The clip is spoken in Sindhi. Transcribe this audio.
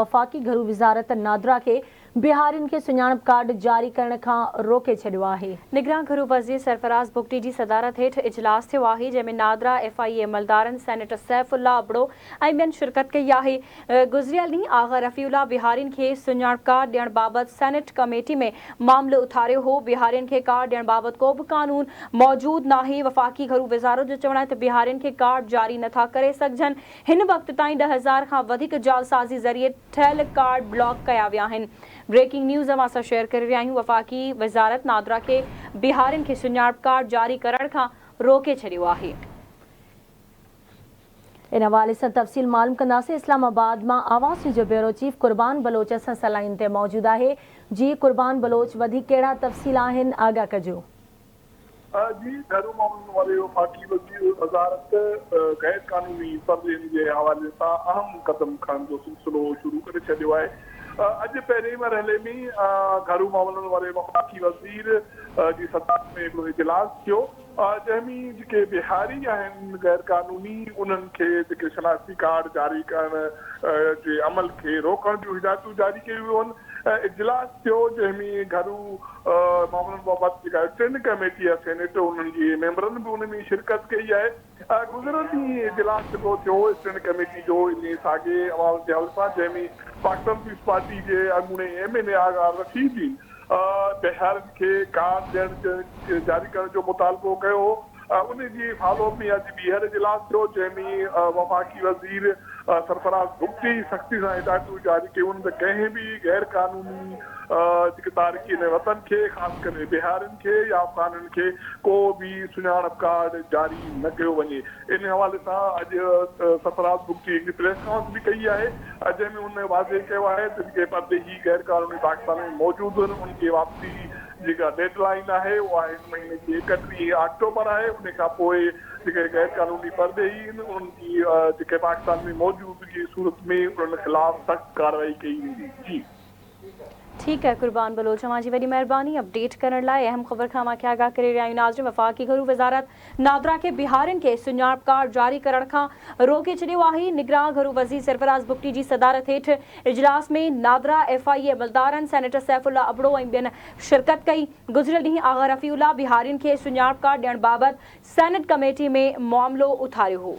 وفاقي گهرو وزارت نادرا کي بهارين کي سڃاڻپ ڪارڊ جاري ڪرڻ کان روڪي ڇڏيو آهي. نگران گهرو وزير سرفراز بگٽي جي صدارت هيٺ اجلاس ٿيو آهي، جنهن ۾ نادرا ايف آء اي عملدارن، سينيٽر سيف الله ابڙو ۽ ٻين شرڪت ڪئي آهي. گذريل ڏينهن آغا رفيع الله بهارين کي سڃاڻپ ڪارڊ ڏيڻ بابت سينيٽ ڪميٽي ۾ معاملو اٿاريو هو. بهارين کي ڪارڊ ڏيڻ بابت ڪو به قانون موجود ناهي. وفاقي گهرو وزارت جو چوڻ آهي ته بهارين کي ڪارڊ جاري نٿا ڪري سگهجن. هن وقت تائين ڏهه هزار کان وڌيڪ جعلسازي ذريعي ٺهيل ڪارڊ بلاڪ ڪيا ويا آهن بريڪنگ نيوز اوهان سان شيئر ڪري رهيا آهيون وفاقي وزارت نادرا کي بهارين کي سڃاڻپ ڪارڊ جاري ڪرڻ کان روڪي ڇڏيو آهي. ان حوالي سان تفصيل معلوم ڪنداسين اسلام آباد مان آوازٽي جو بيورو چيف قربان بلوچ اسان سان لائين تي موجود آهي جي قربان بلوچ وڌيڪ ڪهڙا تفصيل آهن آگاهه ڪجو. اھا جي گھريو معاملن واري وفاقي وزير وزارت غير قانوني سروين جي حوالي سان اھم قدم کڻڻ جو سلسلو شروع ڪري ڇڏيو آھي اڄ پهرين مرحلي ۾ گھريو معاملن واري وفاقي وزير جي صدارت ۾ ھڪڙو اجلاس ٿيو جنهن ۾ جيڪي بهاري آھن غير قانوني انهن کي جيڪي شناختي ڪارڊ جاري ڪرڻ جي عمل کي روڪڻ جون ھدايتون جاري ڪيون ويون اجلاس ٿيو جنهن ۾ گهرو معاملن بابت جيڪا ٽن ڪميٽي آهي سينيٽ انهن جي ميمبرن به ان ۾ شرڪت ڪئي آهي گذريل ڏينهن اجلاس جيڪو ٿيو اسٽينڊ ڪميٽي جو انهي ساڳي احوال جي حل سان جنهن ۾ پاڪستان پيپلز پارٽي جي اڳوڻي M N A Agha Rasheed Uddin Baharin کي ڪارڊ ڏيڻ جاري ڪرڻ جو مطالبو ڪيو هو انهي جي فالو اپ ۾ اڄ ٻيهر اجلاس ٿيو جنهن ۾ وفاقي وزير سرفراز بگٽي سختي سان هدايتون جاري ڪيون ته ڪنهن به غير قانوني جيڪي تارڪين وطن کي خاص ڪري بهارين کي يا افغانن کي ڪو به سڃاڻپ ڪارڊ جاري نه ڪيو وڃي انهي حوالي سان اڄ سرفراز بگٽي هڪڙي پريس ڪانفرنس به ڪئي آهي جنهن ۾ هن واضح ڪيو آهي ته جيڪي پرڏيهي غير قانوني پاڪستان ۾ موجود آهن ان کي واپسي جيڪا ڊيڊ لائين آهي اها هن مهيني جي اڪٽيهين آڪٽوبر آهي ان کان پوء جيڪي غير قانوني پرڏيهي آهن انهن جي جيڪي پاڪستان ۾ موجودگي جي صورت ۾ انهن خلاف سخت ڪارروائي ڪئي ويندي جي. ٺيڪ آهي قربان بلوچ اوهان جي وڏي مهرباني اپڊيٽ ڪرڻ لاء اهم خبر کان اوهان کي آگاهه ڪري رهيا آهيون ناظرين وفاقي گهرو وزارت نادرا کي بهارين کي سڃاڻپ ڪارڊ جاري ڪرڻ کان روڪي ڇڏيو آهي، نگران گهرو وزير سرفراز بگٽي جي صدارت هيٺ اجلاس ۾ نادرا، ايف آء اي عملدارن، سينيٽر سيف الله ابڙو ۽ ٻين شرڪت ڪئي، گذريل ڏينهن آغا رفيع الله بهارين کي سڃاڻپ ڪارڊ ڏيڻ بابت سينيٽ ڪميٽي ۾ معاملو اٿاريو هو.